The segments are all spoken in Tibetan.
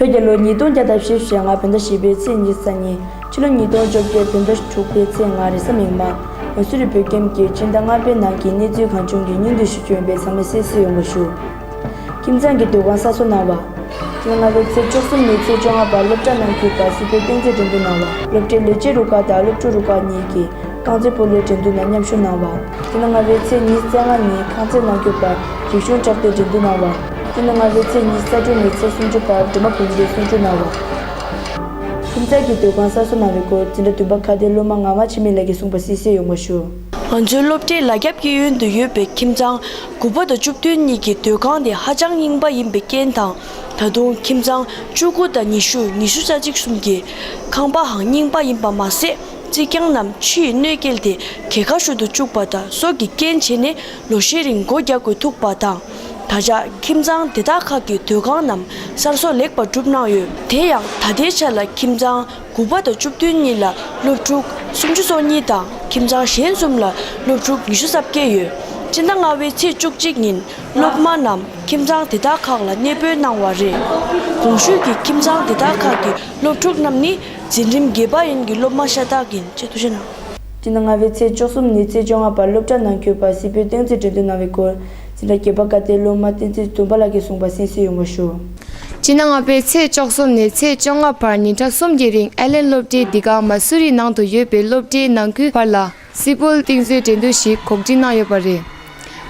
བོད་ཀྱི་ལོ་ཉིས་སྟོང་བརྒྱ་དང་ཞེ་བཞི་ལྔ་བོད་ཟླ་བཞི་པའི་ཚེས་ཉི་ས་ཉིན་ཕྱི་ལོ་ཉིས་སྟོང་བཅོ་བརྒྱད་བོད་ཟླ་དྲུག་པའི་ཚེས་ལྔ་རེས་གཟའ་མིག་དམར་ངོས་སུ་རི་བོད་ཁྱིམ་གྱི་སྤྱི་ཟླ་ལྔ་པའི་ནང་གི་གནས་ཚུལ་གང་བྱུང་གི་སྙིང་བསྡུས་ཤིག་བྱོན་པའི་ཚང་མས་གསལ་བསུ་ཡོང་བར་ཞུ། ཁྱིམ་ཚང་གི་སྡོད་ཁང་གསར་བཟོ་གནང་བ། སྟེ་སྔ་ལོའི་ཚེས་བཅུ་གསུམ་ནས་ཚེས་བཅོ་ལྔ་བར་སློབ་གྲྭ་ནང་ཁུལ་དང་སུའུ་ཕེར་སྟེང་རྩེད་འགྲན་འདུ་གནང་བ། སློབ་གྲྭའི་ལས་བྱེད་རུ་ཁག་དང་སློབ་ཕྲུག་རུ་ཁག་གཉིས་ཀྱིས་རྐང་རྩེད་སྤོ་ལོའི་འགྲན་བསྡུར་ནང་མཉམ་ཞུགས་གནང་བ། སྟེ་ན་ལྔ་བའི་ཚེས་གཉིས་རྩེ་ལྔ་ནས་ཁང་རྩེད་ནང་སྐྱོད་པར་རིག་གཞུང་དྲག་སྟེར་འགྲན་འདུ་གནང་བ། སྟེ་ན་ལྔ་བའི་ཚེས་གཉིས་རྩ་དྲུག་ནས་ཚེས་སུམ་ཅུ་བར་སྒྲོལ་མ་བུམ་པའི་གསུང་ཆོས་གནང་བ། ཁྱིམ་ཚང་གི་སྡོད་ཁང་གསར་བཟོ་གནང་བའི་སྐོར་འཛིན་གྲྭ་བདུན་པ་ཁ་བརྡའི་སློབ་མ་ངག་དབང་འཆི་མེད་ལགས་ཀྱིས་གསུངས་པ་གསལ་གསལ་ཡོང་བ་ཞུ། ང་ཚོའི་སློབ་གྲྭའི་ལ་རྒྱབ་ཀྱི་ཡུལ་དུ་ཡོད་པའི་ཁྱིམ་ཚང་དགུ་པ་དང་བཅུ་བདུན་གཉིས་ཀྱི་སྡོད་ཁང་དེ་ཧ་ཅང་རྙིང་པ་ཡིན་པའི་རྐྱེན་དང། ད་དུང་ཁྱིམ་ཚང་བཅུ་དགུ་དང་ཉི་ཤུ་ཉི་ཤུ་རྩ་གཅིག་གསུམ་གྱི་ཁང་པའང་རྙིང་པ་ཡིན་པ་མ་ཟད་རྩིག་གྱང་རྣམས་ཕྱི་ཡི་གནོད་སྐྱེལ་དེ་གས་ཁ་ཤོར་དུ་བཅུག་པ་དང་སོགས་ཀྱི་རྐྱེན་བྱས་ནས་ལོ་ཤས་རིང་སྒོ་རྒྱག་དགོས་ཐུག་པ་དང། ད་ཆ་ཁྱིམ་ཚང་དེ་དག་ཁག་གི་སྡོད་ཁང་རྣམས་གསར་བཟོ་ལེགས་པར་གྲུབ་གནང་ཡོད། དེ་ཡང་ད་ལྟའི་ཆར་ལ་ཁྱིམ་ཚང་དགུ་པ་དང་བཅུ་བདུན་གཉིས་ལ་སློབ་ཕྲུག་སུམ་ཅུ་སོ་གཉིས་དང་ཁྱིམ་ཚང་གཞན་གསུམ་ལ་སློབ་ཕྲུག་ཉི་ཤུ་རྩ་བརྒྱད་ཡོད། སྤྱིར་ན་ལྔ་བའི་ཚེས་བཅུ་གཅིག་ཉིན་སློབ་མ་རྣམས་ཁྱིམ་ཚང་དེ་དག་ཁག་ལ་གནས་སྤོས་གནང་བ་རེད། གོང་ཞུས་ཀྱི་ཁྱིམ་ཚང་དེ་དག་ཁག་གི་སློབ་ཕྲུག་རྣམས་ནི་འཛིན་རིམ་བརྒྱད་པ་ཡན་གྱི་སློབ་མ་ཤ་སྟག་ཡིན། སྤྱིར་ན་ལྔ་བའི་ཚེས་བཅུ་གསུམ་ནས་ཚེས་བཅོ་ལྔ་བར་སློབ་གྲྭ་ནང་སྐྱོད་པ་སིལ་སྤོལ་སྟེང་རྩིས་འབྲི་འདོན་གནང་བའི་སྐོར། སེམས་པ་སྐྱིད་པ་བཀའ་བསྟན་སློབ་མ་བསྟན་འཛིན་བཙུན་པ་ལགས་ཀྱིས་གསུངས་པ་གསན་བསུ་ཡོང་བར་ཞུ། སྤྱིར་ན་ང་པའི་ཚེས་བཅོ་གསུམ་ནས་ཚེས་བཅོ་ལྔ་བར་ཉིན་གྲངས་གསུམ་གྱི་རིང་ཨེ་ལེན་སློབ་གྲྭའི་འདི་ག་མ་སུ་རི་ནང་དུ་ཡོད་པའི་སློབ་གྲྭའི་ནང་ཁུལ་བར་ལ་སིལ་སྤོལ་རྟིང་བཟོའི་འགྲན་བསྡུར་ཞིག་གོ་སྒྲིག་གནང་ཡོད་པ་རེད།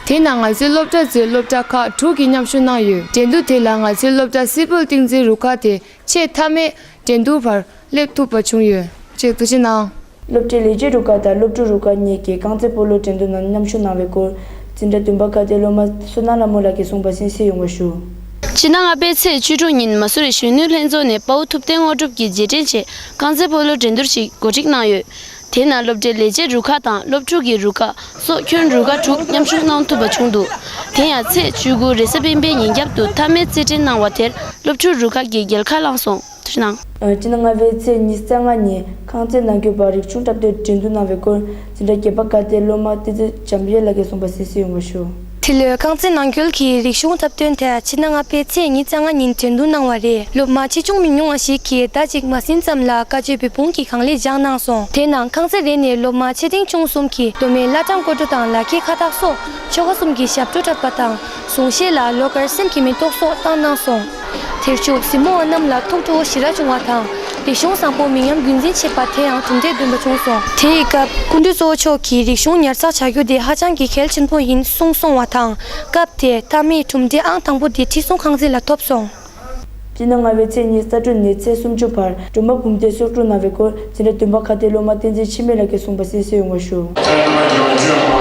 དེ་ནང་ང་ཚོའི་སློབ་གྲྭ་གཙོས་སློབ་གྲྭ་ཁག་དྲུག་གིས་མཉམ་ཞུགས་གནང་ཡོད། འགྲན་བསྡུར་དེ་ལ་ང་ཚོའི་སློབ་གྲྭ་སིལ་སྤོལ་རྟིང་བཟོའི་རུ་ཁག་དེ་ཆེས་མཐའ་མའི་འགྲན་བསྡུར་བར་སླེབས་ཐུབ་པ་བྱུང་ཡོད་ཅེས་བཀའ་སྤྱི་གནང། སློབ་གྲྭའི་ལས་བྱེད་རུ་ཁག་དང་སློབ་ཕྲུག་རུ་ཁག་གཉིས་ཀྱིས་རྐང་རྩེད་སྤོ་ལོའི་འགྲན་བསྡུར་ནང་མཉམ་ཞུགས་གནང་བའི་སྐོར། འཛིན་གྲྭ་བདུན་པ་ཁ་བརྡའི་སློབ་མ་བསོད་ནམས་ལྷ་མོ་ལགས་ཀྱིས་གསུངས་པ་གསན་བསྲིས་ཡོང་བ་ཞུ། ཕྱི་ནང་ཨ་ཕའི་ཚེས་བཅུ་དྲུག་ཉིན་མ་སུ་རི་གཞོན་ནུའི་ལྷན་ཚོགས་ནས་དཔའ་བོ་ཐུབ་བསྟན་དངོས་གྲུབ་ཀྱིས་རྗེས་དྲན་ཆེད་རྐང་རྩེད་སྤོ་ལོའི་འགྲན་བསྡུར་ཞིག་གོ་སྒྲིག་གནང་ཡོད། དེ་ན་སློབ་གྲྭའི་ལས་བྱེད་རུ་ཁག་དང་སློབ་ཕྲུག་གི་རུ་ཁག་སོགས་ཁྱོན་རུ་ཁག་དྲུག་མཉམ་ཞུགས་གནང་ཐུབ་པ་བྱུང་འདུག་དེ་ཡང་ཚེས་བཅུ་དགུ་རེས་གཟའ་སྤེན་པའི་ཉིན་རྒྱབ་ཏུ་མཐའ་མའི་རྩེད་འགྲན་གནང་བ་དེར་སློབ་ཕྲུག་རུ་ཁག་གིས་རྒྱལ་ཁ་བླངས་སོང། དུས་སྣང། སྤྱི་ལྔ་བའི་ཚེས་ཉིན་གསལ་ལྔ་ཉིན་ཁང་བརྩེགས་ནང་གྱོད་པ་རིག་ཆུང་གྲབས་སྟོན་འགྲན་བསྡུར་གནང་བའི་སྐོར་འཛིན་གྲྭ་བརྒྱད་པ་བཀའ་བསྟན་སློབ་མ་བསྟན་འཛིན་འཇམ་དབྱངས་ལགས་ཀྱིས་གསུངས་པ་གསན་བསུ་ཡོང་བར་ཞུ། འདི་ལོའི་རྐང་རྩེད་ནང་ཁུལ་གྱི་རིག་གཞུང་འཁྲབ་སྟོན་དེ་ཕྱི་ཟླ་ལྔ་པའི་ཚེས་ཉིས་བརྒྱ་ལྔ་ཉིན་དྲན་གདུང་གནང་བ་རེད་སློབ་མ་ཆེ་ཆུང་མི་ཉུང་བ་ཞིག་གིས་ཟླ་གཅིག་མ་ཟིན་ཙམ་ལ་བཀའ་ཆོས་བོད་ཕུང་གི་གང་ལེགས་སྦྱངས་གནང་སོང་དེ་ནང་ཁང་རྩེ་རེ་ནས་སློབ་མ་ཆེ་འབྲིང་ཆུང་གསུམ་གྱིས་མདོ་སྨད་བླ་བྲང་སྐོར་བྲོ་དང་ལག་ཁྱེར་ཁ་བཏགས་སོགས་ཆོ་ག་གསུམ་གྱི་ཞབས་བྲོ་འཁྲབ་པ་དང་གཟུངས་བཞེས་ལ་ལོ་འགར་སེམས་ཀྱི་མེ་ཏོག་སོགས་བཏང་གནང་སོང། དེར་ཆུ་གཟིམ་མོ་བ་རྣམས་ལ་ཐུགས་ཁྲོ་བོ་ཞི་རགས་བྱུང་བ་དང། རིག་གཞུང་བཟང་པོ་མི་ཉམས་རྒྱུན་འཛིན་བྱེད་པ་དེ་ཡང་གྲུབ་འབྲས་བདུན་པ་བྱུང་སོང། དེ་ཡི་སྐབས་སྐུ་མདུན་གཙོ་བོ་མཆོག་གིས་རིག་གཞུང་ཉར་ཚགས་བྱ་རྒྱུ་དེ་ཧ་ཅང་གི་གལ་ཆེན་པོ་ཡིན་གསུངས་སོང་བ་དང། སྐབས་དེ་ད་མིའི་གྲུབ་འབྲས་ཨང་དང་པོ་དེ་ཁྲི་སྲོང་ཁང་ཚན་ལ་ཐོབ་སོང། སྤྱིར་ན་སྔ་བའི་ཚེས་གཉིས་གསར་སྐྲུན་ནས་ཚེས་སུམ་ཅུ་བར་སྒྲོལ་མ་བུམ་བཟླས་གསོག་སྒྲུབ་གནང་བའི་སྐོར། ཚེ་འདྲ་སྟོན་པ་མཁའ་ལྡན་སློབ་མ་བསྟན་འཛིན་འཆི་མེད་ལགས་ཀྱིས་གསུངས་པ་གསལ་གསལ་ཡོང་བར་ཞུ། བོད་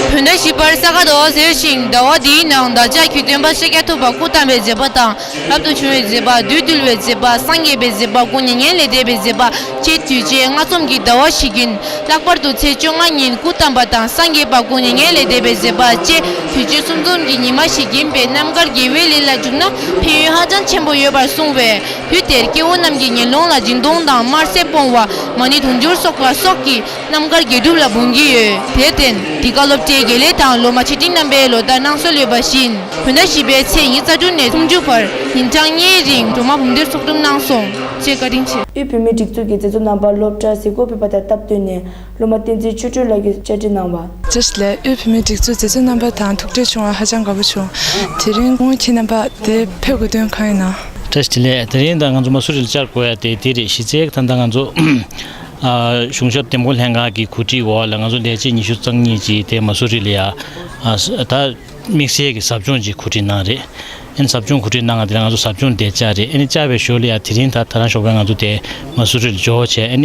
ཟླ་བཞི་པར་ས་ག་ཟླ་བ་ཟེར་ཞིང་ཟླ་བ་དེའི་ནང་བདག་ཅག་གི་སྟོན་པ་ཤཱ་ཀྱ་ཐུབ་པ་སྐུ་བལྟམས་པའི་མཛད་པ་དང་རབ་ཏུ་བྱུང་བའི་མཛད་པ་བདུད་བཏུལ་བའི་མཛད་པ་སངས་རྒྱས་པའི་མཛད་པ་དགུང་ཉེ་བརྒྱད་ལས་འདས་པའི་མཛད་པ་བཅས་དུས་བཅད་ལྔ་ཚོམ་གྱི་ཟླ་བ་བཞི་བརྒྱུད་ལྷག་པར་དུ་ཚེས་བཅོ་ལྔ་ཉིན་སྐུ་བལྟམས་པ་དང་སངས་རྒྱས་པ་དགུང་ཉེ་བརྒྱད་ལས་འདས་པའི་མཛད་པ་བཅས་དུས་བཅད་གསུམ་ཚོམ་གྱི་ཉི་མ་ཞིག་ཡིན་པས་རྣམ་དཀར་དགེ་བའི་ལས་ལ་འཇུག་ན་ཕན་ཡོན་ཧ་ཅང་ཆེན་པོ་ཡོད་པར་གསུངས་བས། དུས་དེར་སྐྱེ་བོ་རྣམས་ཀྱི་ཉེ་ལོང་ལ་སྦྱིན་གཏོང་དང་དམར་ཟས་སྤོང་བ། མ་ཎི་དུང་ཕྱུར་སོགས་ལ་སོགས་ཀྱིས་རྣམ་དཀར་དགེ་སྒྲུབ་ལ་འབུངས་ཀྱི་ཡོད། དེར་བརྟེན་འདི་ག་སློབ་གྲྭའི་དགེ་ལས་དང་ལོ་མ་ཆེ་འབྲིང་རྣམ་པའི་ལོ་ཟླར་གནང་སྲོལ་ཡོད་པ་བཞིན། བོད་ཟླ་བཞི་པའི་ཚེས་ཉེར་རྩ་དྲུག་ནས་སུམ་ཅུ་བར་ཉིན་གྲངས་གཉིས་རིང་སྒྲོལ་མ་བུམ་སྡེར་ཚོགས་འདུམ་གནང་སོང་ཅེས་བཀའ་དྲིན་ཆེ། དབུས་བོད་མིའི་སྒྲིག་འཛུགས་ཀྱི་མཛད་གཙོ་རྣམ་པར་སློབ་གྲྭར་གཟིགས་སྐོར་ཕེབས་པ་དང་སྟབས་བསྟུན་ནས། སློབ་མ་བསྟན་འཛིན་ཆོས་སྒྲོན་ལགས་ཀྱིས་བཅར་འདྲི་གནང་བ། ཅེས་བཤད། ལས་དབུས་བུད་མེད་སྒྲིག་འཛུགས་འཛད་སྤྱོད་རྣམ་པ་དང་ཐུག་འཕྲད་བྱུང་བར་ཧ་ཅང་དགའ་པོ་བྱུང། དེ་རིང་སྔོན་གྱི་རྣམ་པ་དེ་ཕེབས་དགོས་དོན་གང་ཡིན་ནམ། ཀྲེ་ཞི་ལེ། དེ་རིང་ད་ང་ཚོ་མ་སུ་རི་ལ་བཅར་དགོས་ཡ་དེ་དེ་རེད་གཞི་རྩའི་གི་ད་ད་ང་ཚོ། གཞུང་ཞབས་འདེམས་བསྐོ་ལྷན་ཁང་གི་གོ་སྒྲིག་འོག་ལ་ང་ཚོ་ལས་བྱེད་ཉི་ཤུ་རྩང་གཉིས་ཀྱིས་དེ་མ་སུ་རི་ལ་ཡ། ད་དམིགས་བསལ་གི་ཟབ་སྦྱོང་ཅིག་གོ་སྒྲིག་གནང་རེད། ཨན་ཟབ་སྦྱོང་གོ་སྒྲིག་གནང་ང་དེ་ལ་ང་ཚོ་ཟབ་སྦྱོང་དེ་བཅར་རེད་ཨན་བཅར་བའི་ཞོར་ལ་ཡ་དེ་རིང་ད་ད་རང་ཞོགས་པའི་ང་ཚོ་དེ་མ་སུ་རི་ལ་འབྱོར་བྱས་ཨན།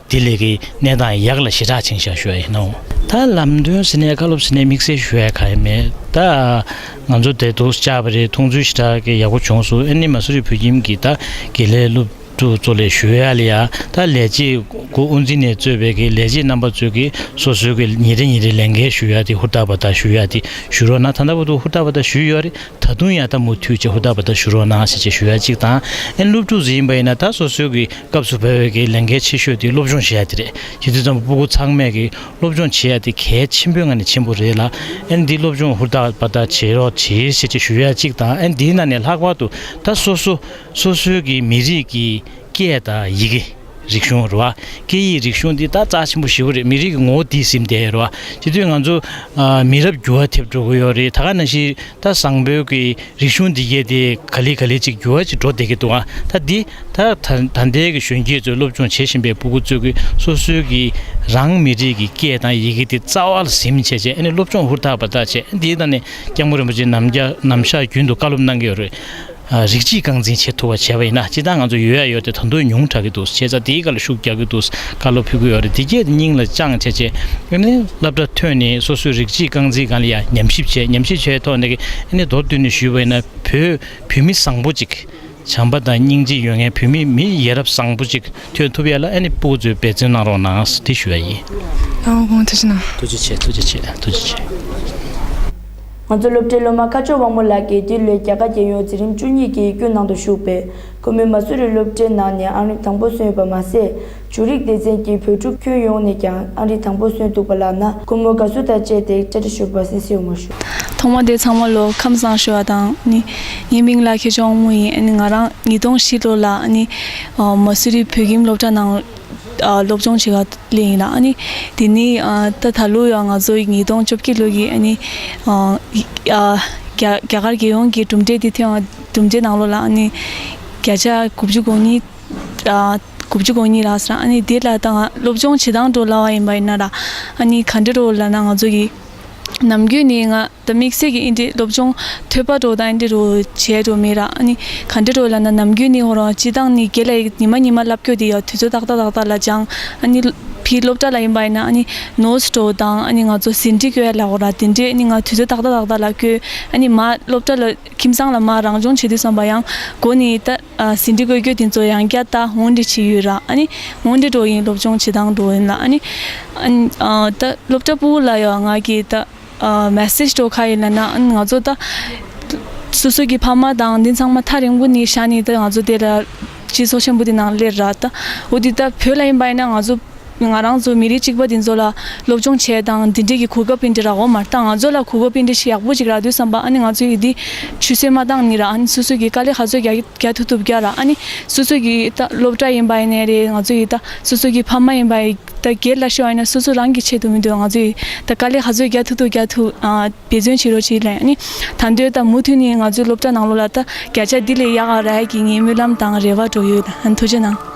དེ་ལས་ཀྱི་གནས་དང་ཡག་ལ་ཞེ་དྲག་ཆིངས་བཞག་ཞུ་བ་ཡིན་ནོ། ད་ལམ་སྟོན་ཟིན་ནས་བཀའ་སློབ་ཟིན་ནས་དམིགས་བསལ་ཞུ་བའི་ག་རེ་མེད་ད། ང་ཚོ་དེ་སྡུག་ཅག་པ་རེད་མཐོང་ཚུལ་ཞེ་དྲག་གི་ཡག་པོ་བྱུང་སུ་ཨེ་ནི་མ་སུ་རི་བོད་ཁྱིམ་གྱི་ད་དགེ་ལས་སློབ་ཕྲུག་ཚོ་ལས་ཞུ་ཡ་ལི་ཡ་ད་ལས་བྱེད་དགུ་དབུ་འཛིན་ནས་གཙོས་པའི་གི་ལས་བྱེད་རྣམ་པ་ཚོས་གི་སོ་སོའི་གི་ཉིན་རེ་ཉིན་རེ་ལས་འགལ་ཞུ་ཡ་དེ་ཧུར་ཐག་པ་ད་ཞུ་ཡ་དེ་ཞུ་རོགས་ན་ད་ད་པོ་ཏོ་ཧུར་ཐག་པ་ད་ཞུ་ཡོད་རེད། ད་དུང་ཡང་ད་མུ་མཐུད་ཀྱིས་ཧུར་ཐག་པར་ལྟ་ཞུ་རོགས་གནང་ཞེས་བྱས་ཞུ་ཡ་གཅིག་དང། ཨན་སློབ་ཕྲུག་ཟིག་ཡིན་པ་ཡིན་ན་ད་སོ་སོའི་གི་སྐབས་སུ་བོད་ཡིག་གི་ལས་འགན་ཆེ་ཤོས་དེ་སློབ་སྦྱོང་བྱེད་ཡ་དེ་རེད་ཁྱེད་ཚོས་ཙམ་པོ་པོ་ཁུ་ཚང་མས་གི་སློབ་སྦྱོང་བྱེད་ཡ་དེ་གལ་ཆེན་པོའི་ང་ནས་ཆེན་པོ་རེད་ལ་ཨན་འདི་སློབ་སྦྱོང་ཧུར་ཐག་པར་ལྟ་བྱེད་རོགས་བྱེད་ཞེས་བྱས་ཞུ་ཡ་གཅིག་དང་ཨན་འདིའི་ནང་ནས་ལྷག་པར་དུ་ད་སོ་སོ་སོ་སོའི་གི་མི་རིགས་གི་སྐད་དང་ཡི་གེ། རིག་གཞུང་རེད་བ། སྐད་ཡིག་རིག་གཞུང་འདི་ད་རྩ་ཆེན་པོ་ཞི་བོ་རེད་མི་རིགས་ཀྱི་ངོ་བོ་དེ་སིམ་དེ་རེད་བ། སྤྱི་དུས་ང་ཚོ་མི་རབས་འགྱུར་བ་ཐེབས་འགྲོ་གི་ཡོད་རེད་ད་ག་ན་ཞིག་ད་བཟང་བོད་ཀྱི་རིག་གཞུང་འདི་གས་དེ་ག་ལེ་ག་ལེ་ཅིག་འགྱུར་བ་ཅིག་འགྲོ་བསྡད་ཀྱི་འདུག་ད་འདི་ད་ད་ལྟའི་གི་གཞོན་སྐྱེས་ཚོས་སློབ་སྦྱོང་བྱེད་བཞིན་པའི་བུ་གུ་ཚོས་ཀྱི་སོ་སོའི་གི་རང་མི་རིགས་ཀྱི་སྐད་དང་ཡི་གེ་དེ་རྩ་བ་ལ་སིམ་བྱས་བྱས་ནས་སློབ་སྦྱོང་ཧུར་ཐག་པ་ཐག་བྱས་འདི་ད་ནི་སྐྱབས་མགོན་རིན་པོ་ཆེ་ནམ་རྒྱ་ནམ་ཤར་རྒྱུན་དུ་བཀའ་སློབ་གནང་གི་ཡོད་རེད། རིགས་གཅིག་རྐང་འཛིན་བྱེད་ཐུབ་པ་བྱས་པ་ཡིན་ན་སྤྱི་བཏང་ང་ཚོ་ཡོད་ཡ་ཡོད་དེ་ད་དུང་ཉུང་དྲག་གི་འདུག་བྱས་ཙང་དེའི་བཀའ་ལ་ཤུགས་རྒྱག་གི་འདུག་བཀའ་སློབ་ཕུལ་གི་ཡོད་རེད་དེ་རྒྱས་སྙིང་ལ་བཅངས་བྱས་རྗེས་ཨེ་ནི་བསླབ་གྲྭ་ཐོན་ནས་སོ་སོའི་རིགས་གཅིག་རྐང་འཛིན་གང་ལ་ཡ་ཉམས་ཞིབ་བྱས་ཉམས་ཞིབ་བྱས་ཐོག་ནས་ཀྱི་ཨེ་ནི་མདོར་བསྡུས་ནས་ཞུས་པ་ཡིན་ན་བོད་བུད་མེད་བཟང་པོ་གཅིག་བྱམས་པ་དང་སྙིང་རྗེ་ཡོད་མཁན་བུད་མེད་མི་ཡི་ཡ་རབས་བཟང་པོ་གཅིག་ཐོན་ཐུབ་ཡ་ལ་ཨེ་ནི་སྤུ་གུ་གཙོས་འབད་བརྩོན་གནང་རོགས་གནང་ཟེར་དེ་ཞུ་ཡ་ཡིན། ཐུགས་རྗེ་ཆེ་ཐུགས་རྗེ་ཆེ་ཐུགས་རྗེ་ཆེ། ང་ཚོ་སློབ་གྲྭའི་སློབ་མ་ཁ་ཕྱོགས་དབང་མོ་ལགས་ཀྱིས་འདི་ལོའི་རྒྱལ་ཁ་རྒྱལ་ཡོངས་འཛིན་རིམ་བཅུ་གཉིས་ཀྱི་ཡིག་རྒྱུགས་ནང་དུ་ཞུགས་པས་ཁོ་མོའི་མ་སུ་རི་སློབ་གྲྭའི་ནང་ནས་ཨང་རིམ་དང་པོ་སོན་ཡོད་པ་མ་ཟད། ཇུ་རིག་སྡེ་ཚན་གྱི་བོད་ཕྲུག་ཁྱོན་ཡོངས་ནས་ཀྱང་ཨང་རིམ་དང་པོ་སོན་འདུག་པ་ལགས་ན་ཁོ་མོ་དགའ་བསུ་དང་བཅས་ཏེ་བཀྲ་ཁྲི་ཞོལ་བར་སེང་སེ་ཡོང་བར་ཞུ། ཐོག་མ་དེ་ཚང་མ་ལོ་ཁམས་བཟང་ཞོལ་བ་དང་ནི། ངའི་མིང་ལ་ཁེ་ཆོག་དབང་མོ་ཡིན་ང་རང་ཉིས་སྟོང་བཞི་ལོ་ལ་ནི། མ་སུ་རི་བོད་ཁྱིམ་སློབ་གྲྭ་ནང། སློབ་སྦྱོང་བྱེད་པ་ལས་ཡིན་ན་ནི་དེ་ནི་ད་ད་ལོ་ཡང་ང་ཚོའི་ཉིས་སྟོང་བཅོ་བརྒྱད་ལོ་ཡི་ནི་རྒྱ་གར་རྒྱལ་ཡོངས་ཀྱི་གྲུབ་འབྲས་དེ་ཐེངས་གྲུབ་འབྲས་ནང་ལོགས་ལ་ནི་བརྒྱ་ཆ་དགུ་བཅུ་གོ་གཉིས་དགུ་བཅུ་གོ་གཉིས་ལགས་སོ་ཨ་ནི་དེ་ལ་ད་སློབ་སྦྱོང་བྱེད་སྟངས་སྤྲོ་སླ་བ་ཡིན་པ་ཡིན་ན་ར་ཨ་ནི་ག་འདྲི་རོ་ལབ་ན་ང་ཚོ་ཡི་ནམ་རྒྱུན་ནི་ང་ད་དམིགས་བསལ་གྱི་ཨིན་དྲིའི་སློབ་སྦྱོང་ཐོད་པ་གྲོ་དང་ཨིན་དྲི་རུ་བྱས་འགྲོ་མི་རག་ཨ་ནི་ག་འདྲ་རོ་ལ་ན་ནམ་རྒྱུན་ནི་ཧོ་རང་སྤྱི་བཏང་ནི་དགེ་ལ་ཡིག་ཉི་མ་ཉི་མ་བསླབ་སྐྱོ་དེ་ཡང་དུས་ཚོད་ཏག་ཏག་ཏག་ཏག་ལ་སྦྱང་ཨ་ནི་ཕི་སློབ་གྲྭ་ལ་ཡིན་པ་ཡིན་ན་ཨ་ནི་ནོས་གྲོ་དང་ཨ་ནི་ང་ཚོ་ཟིན་བྲིས་བཀོད་ཡ་ལ་ཧོ་རང་དེ་འདྲས་ཨ་ནི་ང་དུས་ཚོད་ཏག་ཏག་ཏག་ཏག་ལ་བསྐྱོད་ཨ་ནི་མ་སློབ་གྲྭ་ལ་ཁྱིམ་ཚང་ལ་མ་རང་སྦྱོང་བྱེད་དུས་བསམ་པ་ཡང་གོ་ནི་ད། ཟིན་བྲིས་བཀོད་རྒྱུ་དེ་ཚོ་ཡང་བསྐྱར་ད་ངོ་འདྲི་བྱེད་ཡུལ་རང་ཨ་ངོ་འདྲི་འགྲོ་ཡིན་སློབ་སྦྱོང་བྱེད་སྟངས་འགྲོ་ཡིན་ལ་ཨ་ད་སློབ་གྲྭ་པུའུ་ལ་ཡང་ང་གིས་ད་མེསེར་སྤྲོ་ཁ་ཡིན་ལ་ན་ཨ་ང་ཚོ་ད་སོ་སོ་གི་ཕ་མ་དང་འདི་ཚང་མ་ཐག་རིང་པོ་ནས་བཞག་ནས་ད་ང་ཚོ་དེ་ལ་སྤྱི་ཚོགས་ཆེན་པོ་དེ་ནང་སླེབས་ར་ད་འོ་དེ་ད་བོད་ལ་ཡིན་པ་ཡིན་ན་ང་ཚོ་ང་རང་ཚོ་མི་རིགས་གཅིག་པ་འདི་ཚོ་ལ་སློབ་སྦྱོང་བྱས་དང་འདི་འདྲས་ཀྱི་གུ་ག་པིན་དྲི་རག་འོ་མར་བཏང་ང་ཚོ་ལ་གུ་གུ་པིན་དྲི་ཞིག་ཡག་པོ་ཅིག་རག་དུས་བསམ་པ་ཨ་ནི་ང་ཚོ་ཡི་དི་ཆུ་སེར་མ་བཏང་ནི་རག་ཨ་ནི་སོ་སོས་ཀྱི་དཀའ་ལས་ག་ཚོད་རྒྱག་ཐུབ་ཐུབ་རྒྱག་རག་ཨ་ནི་སོ་སོས་ཀྱི་ད་སློབ་གྲ་ཡིན་པ་ཡིན་ནའི་རེད་ང་ཚོ་ཡི་ད་སོ་སོས་ཀྱི་ཕ་མ་ཡིན་པ་ཡིན་ད་སྒེར་ལ་ཤོ་ཨ་ནི་སོ་སོ་རང་གི་ཆེད་དུ་མི་འདོད་ང་ཚོ་ཡི་ད་དཀའ་ལས་ག་ཚོད་རྒྱག་ཐུབ་ཐུབ་རྒྱག་ཐུབ་འབད་བརྩོན་བྱེད་རོགས་བྱེད་ཨ་ནི་ད་འདོད་ད་མུ་མཐུད་ནི་ང་ཚོའི་སློབ་གྲ་ནང་ལོག་ལ་ད་བརྒྱ་ཆ་འདི་ལས་ཡག་ག་རག་ཡ་གི་ངའི་སྨོན་ལམ་དང་རེ་བ་གྲོ་ཡོད་ཨ་ནི་ཐུགས་རྗེ་གནང།